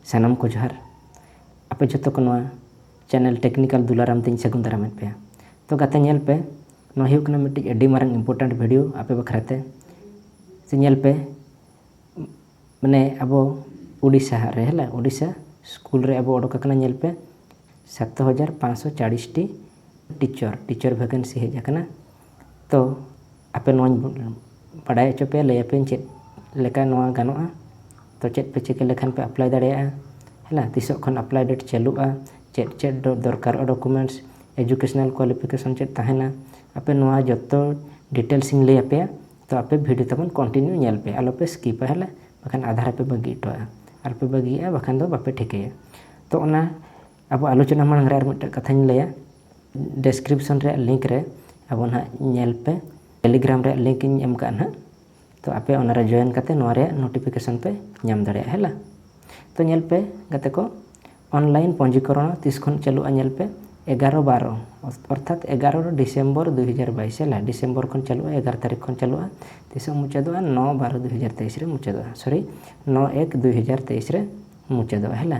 ᱥᱟᱱᱟᱢ ᱠᱚ ᱡᱚᱦᱟᱨ ᱟᱯᱮ ᱡᱚᱛᱚ ᱠᱚ ᱱᱚᱣᱟ ᱪᱮᱱᱮᱞ ᱴᱮᱠᱱᱤᱠᱟᱞ ᱫᱩᱞᱟᱨᱟᱢ ᱛᱮᱧ ᱥᱟᱹᱜᱩᱱ ᱫᱟᱨᱟᱢᱮᱫ ᱯᱮᱭᱟ ᱛᱚ ᱜᱟᱛᱮ ᱧᱮᱞ ᱯᱮ ᱱᱚᱣᱟ ᱦᱩᱭᱩᱜ ᱠᱟᱱᱟ ᱢᱤᱫᱴᱤᱡ ᱟᱹᱰᱤ ᱢᱟᱨᱟᱝ ᱤᱢᱯᱚᱨᱴᱮᱱᱴ ᱵᱷᱤᱰᱤᱭᱳ ᱟᱯᱮ ᱵᱟᱠᱷᱨᱟ ᱛᱮ ᱥᱮ ᱧᱮᱞ ᱯᱮ ᱢᱟᱱᱮ ᱟᱵᱚ ᱩᱰᱤᱥᱟ ᱨᱮ ᱦᱮᱞᱟ ᱩᱰᱤᱥᱟ ᱥᱠᱩᱞ ᱨᱮ ᱟᱵᱚ ᱚᱰᱚᱠ ᱟᱠᱟᱱᱟ ᱧᱮᱞ ᱯᱮ ᱥᱟᱛ ᱦᱟᱡᱟᱨ ᱯᱟᱸᱪᱥᱚ ᱪᱟᱲᱤᱥᱴᱤ ᱴᱤᱪᱚᱨ ᱴᱤᱪᱚᱨ ᱵᱷᱮᱠᱮᱱᱥᱤ ᱦᱮᱡ ᱟᱠᱟᱱᱟ ᱛᱚ ᱟᱯᱮ ᱱᱚᱣᱟᱧ ᱵᱟᱰᱟᱭ ᱦᱚᱪᱚ ᱯᱮᱭᱟ ᱞᱟᱹᱭ ᱟᱯᱮᱭᱟᱹᱧ ᱪᱮᱫ ᱞᱮᱠᱟ ᱱᱚᱣᱟ ᱜᱟᱱᱚᱜᱼᱟ ᱛᱚ ᱪᱮᱫ ᱯᱮ ᱪᱤᱠᱟᱹ ᱞᱮᱠᱷᱟᱱ ᱯᱮ ᱮᱯᱞᱟᱭ ᱫᱟᱲᱮᱭᱟᱜᱼᱟ ᱦᱮᱸ ᱛᱤᱥᱚᱜ ᱠᱷᱚᱱ ᱮᱯᱞᱟᱭ ᱰᱮᱴ ᱪᱟᱹᱞᱩᱜᱼᱟ ᱪᱮᱫ ᱪᱮᱫ ᱫᱚᱨᱠᱟᱨᱚᱜᱼᱟ ᱰᱚᱠᱳᱢᱮᱱᱴᱥ ᱮᱰᱩᱠᱮᱥᱚᱱᱟᱞ ᱠᱚᱣᱟᱞᱤᱯᱷᱤᱠᱮᱥᱚᱱ ᱪᱮᱫ ᱛᱟᱦᱮᱱᱟ ᱟᱯᱮ ᱱᱚᱣᱟ ᱡᱚᱛᱚ ᱰᱤᱴᱮᱞᱥ ᱤᱧ ᱞᱟᱹᱭ ᱟᱯᱮᱭᱟ ᱛᱚ ᱟᱯᱮ ᱵᱷᱤᱰᱤᱭᱳ ᱛᱟᱵᱚᱱ ᱠᱚᱱᱴᱤᱱᱤᱭᱩ ᱧᱮᱞ ᱯᱮ ᱟᱞᱚ ᱯᱮ ᱥᱠᱤᱯᱟ ᱦᱮᱸ ᱵᱟᱠᱷᱟᱱ ᱟᱫᱷᱟ ᱨᱮᱯᱮ ᱵᱟᱹᱜᱤ ᱦᱚᱴᱚᱣᱟᱜᱼᱟ ᱟᱨᱯᱮ ᱵᱟᱹᱜᱤᱭᱟᱜᱼᱟ ᱵᱟᱠᱷᱟᱱ ᱫᱚ ᱵᱟᱯᱮ ᱴᱷᱤᱠᱟᱹᱭᱟ ᱛᱚ ᱚᱱᱟ ᱟᱵᱚ ᱟᱞᱳᱪᱚᱱᱟ ᱢᱟᱲᱟᱝ ᱨᱮ ᱟᱨ ᱢᱤᱫᱴᱮᱱ ᱠᱟᱛᱷᱟᱧ ᱞᱟᱹᱭᱟ ᱰᱮᱥᱠᱨᱤᱯᱥᱚᱱ ᱨᱮᱭᱟᱜ ᱞᱤᱝᱠ ᱨᱮ ᱟᱵᱚ ᱱᱟᱦᱟᱜ ᱧᱮᱞ ᱯᱮ ᱴᱮᱞᱤᱜᱨᱟᱢ ᱨᱮᱭᱟᱜ ᱞᱤᱝᱠ ᱤᱧ ᱮᱢ ᱠᱟᱜᱼᱟ ᱱᱟᱦᱟᱜ ᱛᱚ ᱟᱯᱮ ᱚᱱᱟᱨᱮ ᱡᱚᱭᱮᱱ ᱠᱟᱛᱮ ᱱᱚᱣᱟ ᱨᱮᱭᱟᱜ ᱱᱳᱴᱤᱯᱷᱤᱠᱮᱥᱚᱱ ᱯᱮ ᱧᱟᱢ ᱫᱟᱲᱮᱭᱟᱜᱼᱟ ᱦᱮᱞᱟ ᱛᱚ ᱧᱮᱞ ᱯᱮ ᱜᱟᱛᱮ ᱠᱚ ᱚᱱᱞᱟᱭᱤᱱ ᱯᱚᱧᱡᱤᱠᱚᱨᱚᱱ ᱛᱤᱥ ᱠᱷᱚᱱ ᱪᱟᱹᱞᱩᱜᱼᱟ ᱧᱮᱞ ᱯᱮ ᱮᱜᱟᱨᱚ ᱵᱟᱨᱚ ᱚᱨᱛᱷᱟᱛ ᱮᱜᱟᱨᱚ ᱰᱤᱥᱮᱢᱵᱚᱨ ᱫᱩ ᱦᱟᱡᱟᱨ ᱵᱟᱭᱤᱥ ᱦᱮᱞᱟ ᱰᱤᱥᱮᱢᱵᱚᱨ ᱠᱷᱚᱱ ᱪᱟᱹᱞᱩᱜᱼᱟ ᱮᱜᱟᱨᱚ ᱛᱟᱹᱨᱤᱠᱷ ᱠᱷᱚᱱ ᱪᱟᱹᱞᱩᱜᱼᱟ ᱛᱤᱥᱚᱜ ᱢᱩᱪᱟᱹᱫᱚᱜᱼᱟ ᱱᱚ ᱵᱟᱨᱚ ᱫᱩ ᱦᱟᱡᱟᱨ ᱛᱮᱭᱤᱥ ᱨᱮ ᱢᱩᱪᱟᱹᱫᱚᱜᱼᱟ ᱥᱚᱨᱤ ᱱᱚ ᱮᱠ ᱫᱩ ᱦᱟᱡᱟᱨ ᱛᱮᱭᱤᱥ ᱨᱮ ᱢᱩᱪᱟᱹᱫᱚᱜᱼᱟ ᱦᱮᱞᱟ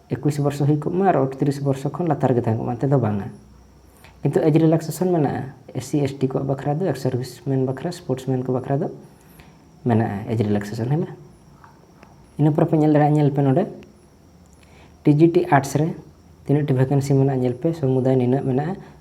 ᱮᱠᱩᱥ ᱵᱚᱨᱥᱚ ᱦᱩᱭ ᱠᱚᱜ ᱢᱟ ᱟᱨ ᱚᱴᱛᱨᱤᱥ ᱵᱚᱨᱥᱚ ᱠᱷᱚᱱ ᱞᱟᱛᱟᱨ ᱜᱮ ᱛᱟᱦᱮᱸ ᱠᱚᱜ ᱢᱟ ᱚᱱᱛᱮ ᱫᱚ ᱵᱟᱝᱟ ᱠᱤᱱᱛᱩ ᱮᱡᱽ ᱨᱤᱞᱟᱠᱥᱮᱥᱚᱱ ᱢᱮᱱᱟᱜᱼᱟ ᱮᱥ ᱥᱤ ᱮᱥ ᱴᱤ ᱠᱚᱣᱟᱜ ᱵᱟᱠᱷᱨᱟ ᱫᱚ ᱮᱠᱥ ᱥᱟᱨᱵᱷᱤᱥ ᱢᱮᱱ ᱵᱟᱠᱷᱨᱟ ᱥᱯᱳᱨᱴᱥ ᱢᱮᱱ ᱠᱚ ᱵᱟᱠᱷᱨᱟ ᱫᱚ ᱢᱮᱱᱟᱜᱼᱟ ᱮᱡᱽ ᱨᱤᱞᱟᱠᱥᱮᱥᱚᱱ ᱦᱮᱸ ᱵᱟᱝ ᱤᱱᱟᱹ ᱯᱚᱨᱮ ᱯᱮ ᱧᱮᱞ ᱫᱟᱲᱮᱭᱟᱜᱼᱟ ᱧᱮᱞ ᱯᱮ ᱱᱚᱰᱮ ᱴᱤ ᱡᱤ ᱴᱤ ᱟᱨᱴᱥ ᱨᱮ ᱛᱤᱱᱟᱹᱜ ᱴᱤ ᱵᱷᱮᱠᱮᱱᱥᱤ ᱢᱮᱱᱟᱜᱼᱟ ᱧᱮᱞ ᱯᱮ ᱥᱚᱢᱩᱫᱟᱭ ᱱᱤᱱᱟᱹᱜ ᱢᱮᱱᱟᱜᱼᱟ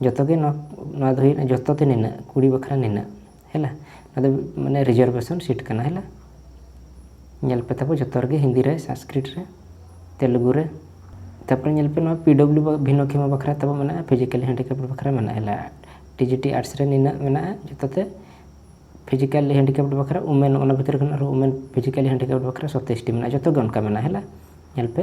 ᱡᱚᱛᱚ ᱜᱮ ᱱᱚᱣᱟ ᱱᱚᱣᱟ ᱫᱚ ᱦᱩᱭᱩᱜ ᱠᱟᱱᱟ ᱡᱚᱛᱚ ᱛᱮ ᱱᱤᱱᱟᱹᱜ ᱠᱩᱲᱤ ᱵᱟᱠᱷᱨᱟ ᱱᱤᱱᱟᱹᱜ ᱦᱮᱞᱟ ᱱᱚᱣᱟ ᱫᱚ ᱢᱟᱱᱮ ᱨᱤᱡᱟᱨᱵᱷᱮᱥᱚᱱ ᱥᱤᱴ ᱠᱟᱱᱟ ᱦᱮᱞᱟ ᱧᱮᱞ ᱯᱮ ᱛᱟᱵᱚ ᱡᱚᱛᱚ ᱨᱮᱜᱮ ᱦᱤᱱᱫᱤ ᱨᱮ ᱥᱟᱝᱥᱠᱨᱤᱴ ᱨᱮ ᱛᱮᱞᱮᱜᱩ ᱨᱮ ᱛᱟᱨᱯᱚᱨᱮ ᱧᱮᱞ ᱯᱮ ᱱᱚᱣᱟ ᱯᱤ ᱰᱚᱵᱞᱤᱭᱩ ᱵᱷᱤᱱᱚᱠᱷᱮᱢᱟ ᱵᱟᱠᱷᱨᱟ ᱛᱟᱵᱚ ᱢᱮᱱᱟᱜᱼᱟ ᱯᱷᱤᱡᱤᱠᱮᱞ ᱦᱮᱱᱰᱤᱠᱮᱯ ᱵᱟᱠᱷᱨᱟ ᱢᱮᱱᱟᱜᱼᱟ ᱦᱮᱞᱟ ᱴᱤ ᱡᱤ ᱴᱤ ᱟᱨᱴᱥ ᱨᱮ ᱱᱤᱱᱟᱹᱜ ᱢᱮᱱᱟᱜᱼᱟ ᱡᱚᱛᱚ ᱛᱮ ᱯᱷᱤᱡᱤᱠᱮᱞ ᱦᱮᱱᱰᱤᱠᱮᱯ ᱵᱟᱠᱷᱨᱟ ᱩᱢᱮᱱ ᱚᱱᱟ ᱵᱷᱤᱛᱨᱤ ᱠᱷᱚᱱ ᱟᱨᱦᱚᱸ ᱩᱢᱮᱱ ᱯᱷᱤᱡᱤᱠᱮᱞ ᱦᱮᱱᱰᱤᱠᱮᱯ ᱵᱟᱠᱷᱨᱟ ᱥᱚᱛᱮᱥᱴᱤ ᱢᱮᱱᱟᱜᱼᱟ ᱡᱚᱛᱚ ᱜᱮ ᱚᱱᱠᱟ ᱢᱮᱱᱟᱜᱼᱟ ᱦᱮᱞᱟ ᱧᱮᱞ ᱯᱮ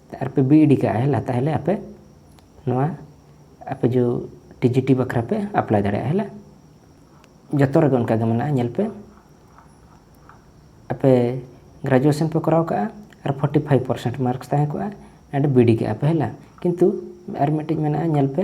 ᱟᱨ ᱯᱮ ᱵᱤ ᱤᱰᱤ ᱠᱟᱜᱼᱟ ᱦᱮᱞᱟ ᱛᱟᱦᱚᱞᱮ ᱟᱯᱮ ᱱᱚᱣᱟ ᱟᱯᱮ ᱡᱚ ᱴᱤ ᱡᱤ ᱴᱤ ᱵᱟᱠᱷᱨᱟ ᱯᱮ ᱟᱯᱞᱟᱭ ᱫᱟᱲᱮᱭᱟᱜᱼᱟ ᱦᱮᱞᱟ ᱡᱚᱛᱚ ᱨᱮᱜᱮ ᱚᱱᱠᱟ ᱜᱮ ᱢᱮᱱᱟᱜᱼᱟ ᱧᱮᱞ ᱯᱮ ᱟᱯᱮ ᱜᱨᱮᱡᱩᱭᱮᱥᱚᱱ ᱯᱮ ᱠᱚᱨᱟᱣ ᱠᱟᱜᱼᱟ ᱟᱨ ᱯᱷᱳᱨᱴᱤ ᱯᱷᱟᱭᱤᱵᱷ ᱯᱟᱨᱥᱮᱱᱴ ᱢᱟᱨᱠᱥ ᱛᱟᱦᱮᱸ ᱠᱚᱜᱼᱟ ᱟᱨ ᱵᱤ ᱤᱰᱤ ᱠᱟᱜᱼᱟ ᱯᱮ ᱦᱮᱞᱟ ᱠᱤᱱᱛᱩ ᱟᱨ ᱢᱤᱫᱴᱤᱡ ᱢᱮᱱᱟᱜᱼᱟ ᱧᱮᱞ ᱯᱮ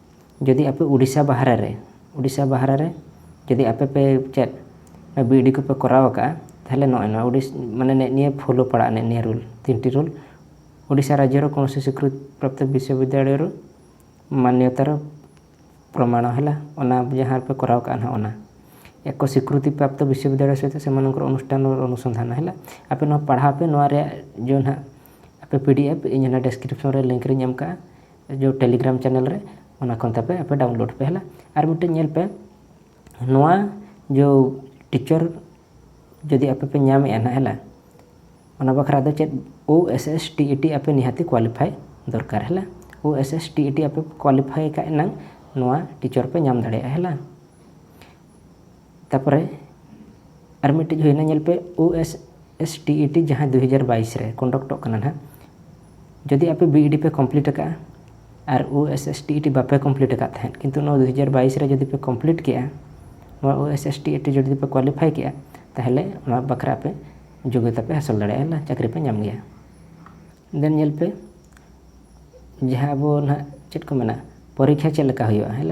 ᱡᱩᱫᱤ ᱟᱯᱮ ᱩᱰᱤᱥᱟ ᱵᱟᱦᱨᱮ ᱨᱮ ᱩᱰᱤᱥᱟ ᱵᱟᱦᱨᱮ ᱨᱮ ᱡᱩᱫᱤ ᱟᱯᱮ ᱯᱮ ᱪᱮᱫ ᱵᱤ ᱮᱰ ᱠᱚᱯᱮ ᱠᱚᱨᱟᱣ ᱟᱠᱟᱫᱼᱟ ᱛᱟᱦᱚᱞᱮ ᱱᱚᱜᱼᱚᱭ ᱱᱚᱣᱟ ᱩᱰᱤᱥ ᱢᱟᱱᱮ ᱱᱮᱜ ᱱᱤᱭᱟᱹ ᱯᱷᱳᱞᱳ ᱯᱟᱲᱟᱜᱼᱟ ᱱᱮᱜ ᱱᱤᱭᱟᱹ ᱨᱩᱞ ᱛᱤᱱᱴᱤ ᱨᱩᱞ ᱩᱰᱤᱥᱟ ᱨᱟᱡᱽᱡᱚ ᱨᱮ ᱠᱳᱱᱳᱥᱤ ᱥᱤᱠᱨᱤᱛ ᱯᱨᱟᱯᱛᱚ ᱵᱤᱥᱥᱚ ᱵᱤᱫᱽᱫᱟᱞᱚᱭᱚᱨ ᱢᱟᱱᱱᱚᱛᱟᱨ ᱯᱨᱚᱢᱟᱬᱚ ᱦᱮᱱᱟᱜ ᱚᱱᱟ ᱡᱟᱦᱟᱸ ᱨᱮᱯᱮ ᱠᱚᱨᱟᱣ ᱟᱠᱟᱫᱼᱟ ᱱᱟᱦᱟᱜ ᱚᱱᱟ ᱮᱠᱚ ᱥᱤᱠᱨᱤᱛᱤ ᱯᱨᱟᱯᱛᱚ ᱵᱤᱥᱥᱚ ᱵᱤᱫᱽᱫᱟᱞᱚᱭ ᱥᱟᱛᱮ ᱥᱮᱢᱟᱱᱚᱝᱠᱚᱨ ᱚᱱᱩᱥᱴᱷᱟᱱ ᱚᱱᱩᱥᱚᱱᱫᱷᱟᱱ ᱦᱮᱱᱟᱜ ᱟᱯᱮ ᱱᱚᱣᱟ ᱯᱟᱲᱦᱟᱣ ᱯᱮ ᱱᱚᱣᱟ ᱨᱮᱭᱟᱜ ᱡᱮ ᱱᱟᱦᱟᱜ ᱟᱯᱮ ᱯᱤ ᱰᱤ ᱮᱯᱷ ᱤᱧ ᱚᱱᱟ ᱰᱮᱥᱠᱨᱤᱯᱥᱚᱱ ᱨᱮ ᱞᱤᱝᱠ ᱨᱮᱧ ᱮᱢ ᱟᱠᱟᱫᱼᱟ ᱡᱮ ᱴᱮᱞᱤᱜᱨᱟᱢ ᱪᱮᱱᱮᱞ ᱨᱮ ᱚᱱᱟ ᱠᱷᱚᱱ ᱛᱟᱯᱮ ᱟᱯᱮ ᱰᱟᱣᱩᱱᱞᱳᱰ ᱯᱮ ᱦᱮᱞᱟ ᱟᱨ ᱢᱤᱫᱴᱮᱱ ᱧᱮᱞ ᱯᱮ ᱱᱚᱣᱟ ᱡᱮ ᱴᱤᱪᱟᱨ ᱡᱩᱫᱤ ᱟᱯᱮ ᱯᱮ ᱧᱟᱢᱮᱜᱼᱟ ᱱᱟᱦᱟᱜ ᱦᱮᱞᱟ ᱚᱱᱟ ᱵᱟᱠᱷᱨᱟ ᱫᱚ ᱪᱮᱫ O S S T E T ᱟᱯᱮ ᱱᱤᱦᱟᱹᱛᱤ ᱠᱳᱣᱟᱞᱤᱯᱷᱟᱭ ᱫᱚᱨᱠᱟᱨ ᱦᱮᱞᱟ O S S T E T ᱟᱯᱮ ᱠᱳᱣᱟᱞᱤᱯᱷᱟᱭ ᱠᱟᱜ ᱮᱱᱟᱝ ᱱᱚᱣᱟ ᱴᱤᱪᱟᱨ ᱯᱮ ᱧᱟᱢ ᱫᱟᱲᱮᱭᱟᱜᱼᱟ ᱦᱮᱞᱟ ᱛᱟᱯᱚᱨᱮ ᱟᱨ ᱢᱤᱫᱴᱤᱡ ᱦᱩᱭᱱᱟ ᱧᱮᱞ ᱯᱮ O S S T E T ᱡᱟᱦᱟᱸ ᱫᱩ ᱦᱟᱡᱟᱨ ᱵᱟᱭᱤᱥ ᱨᱮ ᱠᱚᱱᱰᱟᱠᱴᱚᱜ ᱠᱟᱱᱟ ᱱᱟᱦᱟᱜ ᱡᱩᱫᱤ ᱟᱯᱮ ᱵᱤ ᱤ ᱰᱤ ᱯᱮ ᱠᱚᱢᱯᱞᱤᱴ ᱟᱠᱟᱫᱼᱟ ᱟᱨ O S S T E T ᱵᱟᱯᱮ ᱠᱚᱢᱯᱞᱤᱴ ᱟᱠᱟᱫ ᱛᱟᱦᱮᱸᱫ ᱠᱤᱱᱛᱩ ᱱᱚᱣᱟ ᱫᱩ ᱦᱟᱡᱟᱨ ᱵᱟᱭᱤᱥ ᱨᱮ ᱡᱩᱫᱤ ᱯᱮ ᱠᱚᱢᱯᱞᱤᱴ ᱠᱮᱫᱼᱟ ᱱᱚᱣᱟ O S S T E T ᱡᱩᱫᱤ ᱯᱮ ᱠᱳᱣᱟᱞᱤᱯᱷᱟᱭ ᱠᱮᱫᱼᱟ ᱛᱟᱦᱚᱞᱮ ᱚᱱᱟ ᱵᱟᱠᱷᱨᱟ ᱟᱯᱮ ᱡᱳᱜᱽᱭᱚᱛᱟ ᱯᱮ ᱦᱟᱥᱤᱞ ᱫᱟᱲᱮᱭᱟᱜᱼᱟ ᱪᱟᱹᱠᱨᱤ ᱯᱮ ᱧᱟᱢ ᱜᱮᱭᱟ ᱫᱮᱱ ᱧᱮᱞ ᱯᱮ ᱡᱟᱦᱟᱸ ᱟᱵᱚ ᱱᱟᱦᱟᱜ ᱪᱮᱫ ᱠᱚ ᱢᱮᱱᱟ ᱯᱚᱨᱤᱠᱠᱷᱟ ᱪᱮᱫ ᱞᱮᱠᱟ ᱦᱩᱭᱩᱜᱼᱟ ᱦᱮᱸ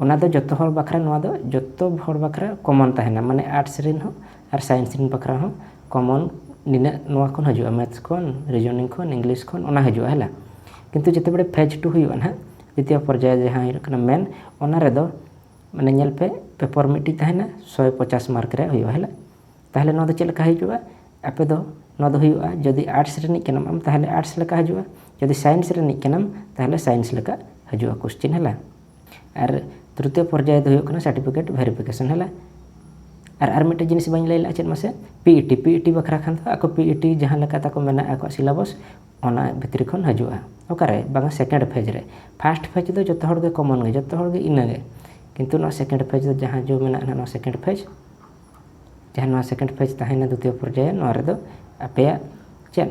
ᱚᱱᱟ ᱫᱚ ᱡᱚᱛᱚ ᱦᱚᱲ ᱵᱟᱠᱷᱨᱟ ᱱᱚᱣᱟ ᱫᱚ ᱡᱚᱛᱚ ᱦᱚᱲ ᱵᱟᱠᱷᱨᱟ ᱠᱚᱢᱚᱱ ᱛᱟᱦᱮᱱᱟ ᱢᱟᱱᱮ ᱟᱨᱴᱥ ᱨᱮᱱ ᱦᱚᱸ ᱟᱨ ᱥᱟᱭᱮᱱᱥ ᱨᱮᱱ ᱵᱟᱠᱷᱨᱟ ᱦᱚᱸ ᱠᱚᱢᱚᱱ ᱱᱤᱱᱟᱹᱜ ᱱᱚᱣᱟ ᱠᱷᱚᱱ ᱦᱤᱡᱩᱜᱼᱟ ᱢᱮᱛᱷᱥ ᱠᱷᱚᱱ ᱨᱤᱡᱳᱱᱤᱝ ᱠᱷᱚᱱ ᱤᱝᱞᱤᱥ ᱠᱷᱚᱱ ᱚᱱᱟ ᱦᱤᱡᱩᱜᱼᱟ ᱦᱮᱸ ᱵᱟᱝ ᱠᱤᱱᱛᱩ ᱡᱮᱛᱮ ᱵᱟᱲᱮ ᱯᱷᱮᱡᱽ ᱴᱩ ᱦᱩᱭᱩᱜᱼᱟ ᱦᱟᱸᱜ ᱫᱤᱛᱤᱭᱚ ᱯᱚᱨᱡᱟᱭ ᱡᱟᱦᱟᱸ ᱦᱩᱭᱩᱜ ᱠᱟᱱᱟ ᱢᱮᱱ ᱚᱱᱟ ᱨᱮᱫᱚ ᱢᱟᱱᱮ ᱧᱮᱞ ᱯᱮ ᱯᱮᱯᱟᱨ ᱢᱤᱫᱴᱤᱡ ᱛᱟᱦᱮᱱᱟ ᱥᱚᱭ ᱯᱚᱪᱟᱥ ᱢᱟᱨᱠ ᱨᱮᱭᱟᱜ ᱦᱩᱭᱩᱜᱼᱟ ᱦᱮᱸ ᱵᱟᱝ ᱛᱟᱦᱚᱞᱮ ᱱᱚᱣᱟ ᱫᱚ ᱪᱮᱫ ᱞᱮᱠᱟ ᱦᱤᱡᱩᱜᱼᱟ ᱟᱯᱮ ᱫᱚ ᱱᱚᱣᱟ ᱫᱚ ᱦᱩᱭᱩᱜᱼᱟ ᱡᱩᱫᱤ ᱟᱨᱴᱥ ᱨᱤᱱᱤᱡ ᱠᱟᱱᱟᱢ ᱟᱢ ᱛᱟᱦᱚᱞᱮ ᱟᱨᱴᱥ ᱞᱮᱠᱟ ᱦᱤᱡᱩᱜᱼᱟ ᱡᱩᱫᱤ ᱥᱟᱭᱮᱱᱥ ᱨᱤᱱᱤᱡ ᱠᱟᱱᱟᱢ ᱛᱟᱦᱚᱞᱮ ᱥᱟᱭᱮᱱᱥ ᱞᱮᱠᱟ ᱦᱤᱡᱩᱜᱼᱟ ᱠᱚᱥᱪᱮᱱ ᱦᱮᱸ ᱵᱟᱝ ᱟᱨ ᱛᱨᱤᱛᱤᱭᱚ ᱯᱚᱨᱡᱟᱭ ᱫᱚ ᱦᱩᱭᱩᱜ ᱠᱟᱱᱟ ᱥᱟᱨᱴᱤᱯᱷᱤᱠᱮᱴ ᱵᱷᱮᱨᱤᱯᱷᱤᱠᱮᱥᱚᱱ ᱦᱮᱞᱟ ᱟᱨ ᱟᱨ ᱢᱤᱫᱴᱮᱱ ᱡᱤᱱᱤᱥ ᱵᱟᱹᱧ ᱞᱟᱹᱭ ᱞᱮᱫᱼᱟ ᱪᱮᱫ ᱢᱟᱥᱮ P E T P E T ᱵᱟᱠᱷᱨᱟ ᱠᱷᱟᱱ ᱫᱚ ᱟᱠᱚ ᱯᱤ ᱤ ᱴᱤ ᱡᱟᱦᱟᱸ ᱞᱮᱠᱟ ᱛᱟᱠᱚ ᱢᱮᱱᱟᱜ ᱟᱠᱚᱣᱟᱜ ᱥᱤᱞᱟᱵᱚᱥ ᱚᱱᱟ ᱵᱷᱤᱛᱨᱤ ᱠᱷᱚᱱ ᱦᱤᱡᱩᱜᱼᱟ ᱚᱠᱟᱨᱮ ᱵᱟᱝᱟ ᱥᱮᱠᱮᱱᱰ ᱯᱷᱮᱡᱽ ᱨᱮ ᱯᱷᱟᱥᱴ ᱯᱷᱮᱡᱽ ᱫᱚ ᱡᱚᱛᱚ ᱦᱚᱲ ᱜᱮ ᱠᱚᱢᱚᱱ ᱜᱮ ᱡᱚᱛᱚ ᱦᱚᱲ ᱜᱮ ᱤᱱᱟᱹᱜᱮ ᱠᱤᱱᱛᱩ ᱱᱚᱣᱟ ᱥᱮᱠᱮᱱᱰ ᱯᱷᱮᱡᱽ ᱫᱚ ᱡᱟᱦᱟᱸ ᱡᱚ ᱢᱮᱱᱟᱜᱼᱟ ᱱᱚᱣᱟ ᱥᱮᱠᱮᱱᱰ ᱯᱷᱮᱡᱽ ᱡᱟᱦᱟᱸ ᱱᱚᱣᱟ ᱥᱮᱠᱮᱱᱰ ᱯᱷᱮᱡᱽ ᱛᱟᱦᱮᱱᱟ ᱫᱤᱛᱤᱭᱚ ᱯᱚᱨᱡᱟᱭ ᱱᱚᱣᱟ ᱨᱮᱫᱚ ᱟᱯᱮᱭᱟᱜ ᱪᱮᱫ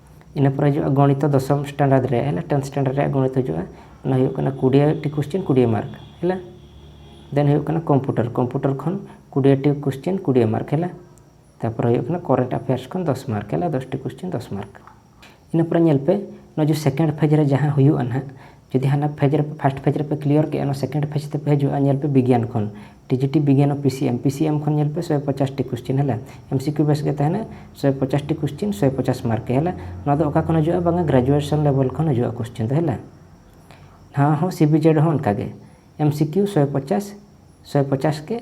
ᱤᱱᱟᱹ ᱯᱚᱨᱮ ᱦᱤᱡᱩᱜᱼᱟ ᱜᱚᱱᱤᱛᱚ ᱫᱚᱥᱚᱢ ᱥᱴᱟᱱᱰᱟᱨᱰ ᱨᱮ ᱦᱮᱸ ᱴᱮᱱᱛᱷ ᱥᱴᱟᱱᱰᱟᱨᱰ ᱨᱮᱭᱟᱜ ᱜᱚᱱᱤᱛ ᱦᱤᱡᱩᱜᱼᱟ ᱚᱱᱟ ᱦᱩᱭᱩᱜ ᱠᱟᱱᱟ ᱠᱩᱲᱤᱭᱟᱹᱴᱤ ᱠᱚᱥᱪᱮᱱ ᱠᱩᱲᱤᱭᱟᱹ ᱢᱟᱨᱠ ᱦᱮᱸ ᱫᱮᱱ ᱦᱩᱭᱩᱜ ᱠᱟᱱᱟ ᱠᱚᱢᱯᱩᱴᱟᱨ ᱠᱚᱢᱯᱩᱴᱟᱨ ᱠᱷᱚᱱ ᱠᱩᱲᱤᱭᱟᱹᱴᱤ ᱠᱚᱥᱪᱮᱱ ᱠᱩᱲᱤᱭᱟᱹ ᱢᱟᱨᱠ ᱦᱮᱸ ᱛᱟᱨᱯᱚᱨᱮ ᱦᱩᱭᱩᱜ ᱠᱟᱱᱟ ᱠᱚᱨᱮᱱᱴ ᱟᱯᱷᱮᱭᱟᱨᱥ ᱠᱷᱚᱱ ᱫᱚᱥ ᱢᱟᱨᱠ ᱦᱮᱸ ᱫᱚᱥᱴᱤ ᱠᱚᱥᱪᱮᱱ ᱫᱚᱥ ᱢᱟᱨᱠ ᱤᱱᱟᱹ ᱯᱚᱨᱮ ᱧᱮᱞ ᱯᱮ ᱱᱚᱣᱟ ᱡᱮ ᱥᱮᱠᱮᱱᱰ ᱯᱷᱮᱡᱽ ᱨᱮ ᱡᱟᱦᱟᱸ ᱦᱩᱭᱩᱜᱼᱟ ᱱᱟᱦᱟᱜ ᱡᱩᱫᱤ ᱦᱟᱱᱟ ᱯᱷᱮᱡᱽ ᱨᱮ ᱯᱷᱟᱥᱴ ᱯᱷᱮᱡᱽ ᱨᱮᱯᱮ ᱠᱞᱤᱭᱟᱨ ᱠᱮᱜᱼᱟ ᱚᱱᱟ ᱥᱮᱠᱮᱱᱰ ᱯᱷᱮᱡᱽ ᱛᱮᱯᱮ ᱦᱤᱡᱩᱜᱼᱟ ᱧᱮᱞ ᱯᱮ ᱵᱤᱜᱽᱭᱟᱱ ᱠᱷᱚᱱ ᱴᱤᱡᱤᱴᱤ ᱵᱤᱜᱽᱭᱟᱱ ᱚᱯᱷ ᱯᱤᱥᱤᱮᱢ ᱯᱤᱥᱤᱮᱢ ᱠᱷᱚᱱ ᱧᱮᱞ ᱯᱮ ᱥᱚᱭ ᱯᱚᱪᱟᱥᱴᱤ ᱠᱚᱥᱪᱮᱱ ᱦᱮᱞᱟ ᱮᱢᱥᱤᱠᱤᱭᱩ ᱵᱮᱥ ᱜᱮ ᱛᱟᱦᱮᱱᱟ ᱥᱚᱭ ᱯᱚᱪᱟᱥᱴᱤ ᱠᱚᱥᱪᱮᱱ ᱥᱚᱭ ᱯᱚᱪᱟᱥ ᱢᱟᱨᱠ ᱦᱮᱞᱟ ᱱᱚᱣᱟ ᱫᱚ ᱚᱠᱟ ᱠᱷᱚᱱ ᱦᱤᱡᱩᱜᱼᱟ ᱵᱟᱝᱟ ᱜᱨᱮᱡᱩᱭᱮᱥᱚᱱ ᱞᱮᱵᱮᱞ ᱠᱷᱚᱱ ᱦᱤᱡᱩᱜᱼᱟ ᱠᱚᱥᱪᱮᱱ ᱫᱚ ᱦᱮᱞᱟ ᱱᱚᱣᱟ ᱦᱚᱸ ᱥᱤᱵᱤᱡᱮᱰ ᱦᱚᱸ ᱚᱱᱠᱟᱜᱮ ᱮᱢᱥᱤᱠᱤᱭᱩ ᱥᱚᱭ ᱯᱚᱪᱟᱥ ᱥᱚᱭ ᱯᱚᱪᱟᱥ ᱜᱮ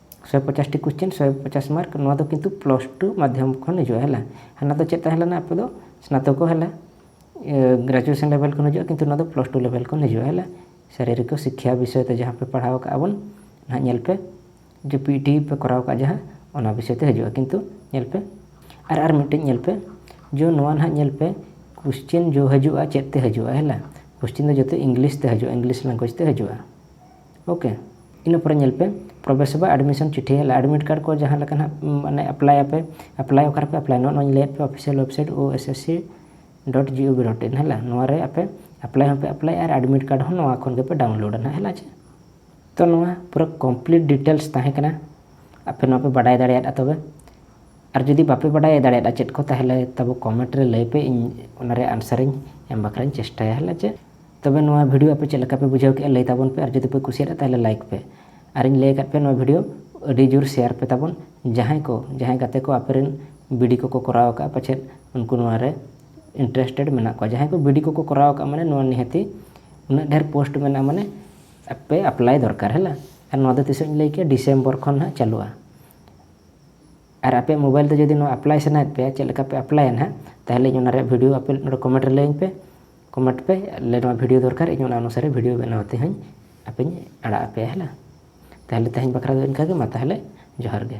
ᱥᱚᱭ ᱯᱚᱪᱟᱥ ᱴᱤ ᱠᱚᱥᱪᱮᱱ ᱥᱚᱭ ᱯᱚᱪᱟᱥ ᱢᱟᱨᱠ ᱱᱚᱣᱟ ᱫᱚ ᱠᱤᱱᱛᱩ ᱯᱞᱟᱥ ᱴᱩ ᱢᱟᱫᱽᱫᱷᱚᱢ ᱠᱷᱚᱱ ᱦᱤᱡᱩᱜᱼᱟ ᱦᱮᱞᱟ ᱦᱟᱱᱟ ᱫᱚ ᱪᱮᱫ ᱛᱟᱦᱮᱸ ᱞᱮᱱᱟ ᱟᱯᱮ ᱫᱚ ᱥᱱᱟᱛᱚᱠᱚ ᱦᱮᱞᱟ ᱜᱨᱟᱡᱩᱭᱮᱥᱚᱱ ᱞᱮᱵᱮᱞ ᱠᱷᱚᱱ ᱦᱤᱡᱩᱜᱼᱟ ᱠᱤᱱᱛᱩ ᱱᱚᱣᱟ ᱫᱚ ᱯᱞᱟᱥ ᱴᱩ ᱞᱮᱵᱮᱞ ᱠᱷᱚᱱ ᱦᱤᱡᱩᱜᱼᱟ ᱦᱮᱞᱟ ᱥᱟᱨᱤᱨᱤᱠᱚ ᱥᱤᱠᱠᱷᱟ ᱵᱤᱥᱚᱭ ᱛᱮ ᱡᱟᱦᱟᱸ ᱯᱮ ᱯᱟᱲᱦᱟᱣ ᱠᱟᱜᱼᱟ ᱵᱚᱱ ᱱᱟᱦᱟᱜ ᱧᱮᱞ ᱯᱮ ᱡᱮ ᱯᱤ ᱴᱤ ᱯᱮ ᱠᱚᱨᱟᱣ ᱠᱟᱜᱼᱟ ᱡᱟᱦᱟᱸ ᱚᱱᱟ ᱵᱤᱥᱚᱭ ᱛᱮ ᱦᱤᱡᱩᱜᱼᱟ ᱠᱤᱱᱛᱩ ᱧᱮᱞ ᱯᱮ ᱟᱨ ᱟᱨ ᱢᱤᱫᱴᱮᱱ ᱧᱮᱞ ᱯᱮ ᱡᱮ ᱱᱚᱣᱟ ᱱᱟᱦᱟᱜ ᱧᱮᱞ ᱯᱮ ᱠᱚᱥᱪᱮᱱ ᱡᱚ ᱦᱤᱡᱩᱜᱼᱟ ᱪᱮᱫ ᱛᱮ ᱦᱤᱡᱩᱜᱼᱟ ᱦᱮᱞᱟ ᱠᱚᱥᱪᱮᱱ ᱫᱚ ᱡᱚᱛᱚ ᱤᱝᱞᱤᱥ ᱛᱮ ᱦᱤᱡᱩᱜᱼᱟ ᱤᱝᱞᱤᱥ ᱞᱮᱝᱜᱩᱭᱮᱡᱽ ᱛᱮ ᱦᱤᱡᱩᱜᱼᱟ ᱳᱠᱮ ᱤᱱᱟᱹ ᱯᱚᱨᱮ ᱧᱮᱞ ᱯᱮ ᱯᱨᱚᱵᱮᱥ ᱥᱮᱵᱟ ᱮᱰᱢᱤᱥᱚᱱ ᱪᱤᱴᱷᱤ ᱦᱮᱡ ᱮᱱᱟ ᱮᱰᱢᱤᱴ ᱠᱟᱨᱰ ᱠᱚ ᱡᱟᱦᱟᱸ ᱞᱮᱠᱟ ᱱᱟᱦᱟᱜ ᱢᱟᱱᱮ ᱮᱯᱞᱟᱭ ᱟᱯᱮ ᱮᱯᱞᱟᱭ ᱚᱠᱟ ᱨᱮᱯᱮ ᱮᱯᱞᱟᱭᱟ ᱱᱚᱜᱼᱚᱭ ᱱᱚᱣᱟᱧ ᱞᱟᱹᱭᱟᱫ ᱯᱮ official website O S S C dot G O V dot in ᱦᱮᱞᱟ ᱱᱚᱣᱟ ᱨᱮ ᱟᱯᱮ ᱮᱯᱞᱟᱭ ᱦᱚᱸᱯᱮ ᱮᱯᱞᱟᱭ ᱟᱨ ᱮᱰᱢᱤᱴ ᱠᱟᱨᱰ ᱦᱚᱸ ᱱᱚᱣᱟ ᱠᱷᱚᱱ ᱜᱮᱯᱮ ᱰᱟᱣᱩᱱᱞᱳᱰᱟ ᱱᱟᱦᱟᱜ ᱦᱮᱞᱟ ᱪᱮ ᱛᱚ ᱱᱚᱣᱟ ᱯᱩᱨᱟᱹ ᱠᱚᱢᱯᱞᱤᱴ ᱰᱤᱴᱮᱞᱥ ᱛᱟᱦᱮᱸ ᱠᱟᱱᱟ ᱟᱯᱮ ᱱᱚᱣᱟ ᱯᱮ ᱵᱟᱰᱟᱭ ᱫᱟᱲᱮᱭᱟᱫᱼᱟ ᱛᱚᱵᱮ ᱟᱨ ᱡᱩᱫᱤ ᱵᱟᱯᱮ ᱵᱟᱰᱟᱭ ᱫᱟᱲᱮᱭᱟᱫᱼᱟ ᱪᱮᱫ ᱠᱚ ᱛᱟᱦᱚᱞᱮ ᱛᱟᱵᱚ ᱠᱚᱢᱮᱱᱴ ᱨᱮ ᱞᱟᱹᱭ ᱯᱮ ᱤᱧ ᱚᱱᱟᱨᱮ ᱟᱱᱥᱟᱨᱤᱧ ᱮᱢ ᱵᱟᱠᱷᱨᱟᱧ ᱪᱮᱥᱴᱟᱭᱟ ᱦᱮᱞᱟ ᱪᱮ ᱛᱚᱵᱮ ᱱᱚᱣᱟ ᱵᱷᱤᱰᱤᱭᱳ ᱟᱯᱮ ᱪᱮᱫ ᱞᱮᱠᱟ ᱯᱮ ᱵᱩᱡᱷᱟᱹᱣ ᱠᱮᱫᱼᱟ ᱞᱟᱹᱭ ᱛᱟᱵᱚᱱ ᱯᱮ ᱟᱨ ᱡᱩᱫᱤ ᱯᱮ ᱠᱩᱥᱤᱭᱟᱫᱟ ᱛᱟᱦᱚᱞᱮ ᱞᱟᱭᱤᱠ ᱯᱮ ᱟᱨᱤᱧ ᱞᱟᱹᱭ ᱟᱠᱟᱫ ᱯᱮ ᱱᱚᱣᱟ ᱵᱷᱤᱰᱤᱭᱳ ᱟᱹᱰᱤ ᱡᱳᱨ ᱥᱮᱭᱟᱨ ᱯᱮ ᱛᱟᱵᱚᱱ ᱡᱟᱦᱟᱸᱭ ᱠᱚ ᱡᱟᱦᱟᱸᱭ ᱜᱟᱛᱮ ᱠᱚ ᱟᱯᱮ ᱨᱮᱱ ᱵᱤᱰᱤ ᱠᱚᱠᱚ ᱠᱚᱨᱟᱣ ᱟᱠᱟᱫᱼᱟ ᱯᱟᱪᱮᱫ ᱩᱱᱠᱩ ᱱᱚᱣᱟ ᱨᱮ ᱤᱱᱴᱟᱨᱮᱥᱴᱮᱰ ᱢᱮᱱᱟᱜ ᱠᱚᱣᱟ ᱡᱟᱦᱟᱸᱭ ᱠᱚ ᱵᱤᱰᱤ ᱠᱚᱠᱚ ᱠᱚᱨᱟᱣ ᱟᱠᱟᱫᱼᱟ ᱢᱟᱱᱮ ᱱᱚᱣᱟ ᱱᱤᱦᱟᱹᱛᱤ ᱩᱱᱟᱹᱜ ᱰᱷᱮᱨ ᱯᱳᱥᱴ ᱢᱮᱱᱟᱜᱼᱟ ᱢᱟᱱᱮ ᱟᱯᱮ ᱟᱯᱞᱟᱭ ᱫᱚᱨᱠᱟᱨ ᱦᱮᱸ ᱟᱨ ᱱᱚᱣᱟ ᱫᱚ ᱛᱤᱥᱚᱜ ᱤᱧ ᱞᱟᱹᱭ ᱠᱮᱫᱼᱟ ᱰᱤᱥᱮᱢᱵᱚᱨ ᱠᱷᱚᱱ ᱦᱟᱸᱜ ᱪᱟᱹᱞᱩᱜᱼᱟ ᱟᱨ ᱟᱯᱮ ᱢᱳᱵᱟᱭᱤᱞ ᱛᱮ ᱡᱩᱫᱤ ᱱᱚᱣᱟ ᱟᱯᱞᱟᱭ ᱥᱟᱱᱟᱭᱮᱫ ᱯᱮᱭᱟ ᱪᱮᱫ ᱞᱮᱠᱟ ᱯᱮ ᱟᱯᱞᱟᱭᱟ ᱦᱟᱸᱜ ᱛᱟᱦᱚᱞᱮ ᱚᱱᱟ ᱨᱮᱭᱟᱜ ᱵᱷᱤᱰᱤᱭᱳ ᱟᱯᱮ ᱱᱚᱰᱮ ᱠᱚᱢᱮᱱᱴ ᱨᱮ ᱞᱟᱹᱭᱟᱹᱧ ᱯᱮ ᱠᱚᱢᱮᱱᱴ ᱯᱮ ᱟᱞᱮ ᱱᱚᱣᱟ ᱵᱷᱤᱰᱤᱭᱳ ᱫᱚᱨᱠᱟᱨ ᱤᱧ ᱚᱱᱟ ᱚᱱᱩᱥᱟᱨᱮ ᱵᱷᱤᱰᱤᱭᱳ ᱵᱮᱱᱟᱣ ᱛᱮ ᱦᱚᱸᱧ ᱟᱯᱮᱧ ᱟᱲᱟᱜ ᱟᱯᱮᱭᱟ ᱦᱮᱞᱟ ᱛᱟᱦᱚᱞᱮ ᱛᱮᱦᱮᱧ ᱵᱟᱠᱷᱨᱟ ᱫᱚ ᱤᱱᱠᱟᱹ ᱜᱮ ᱢᱟ ᱛᱟᱦᱚᱞᱮ ᱡᱚᱦᱟᱨ ᱜᱮ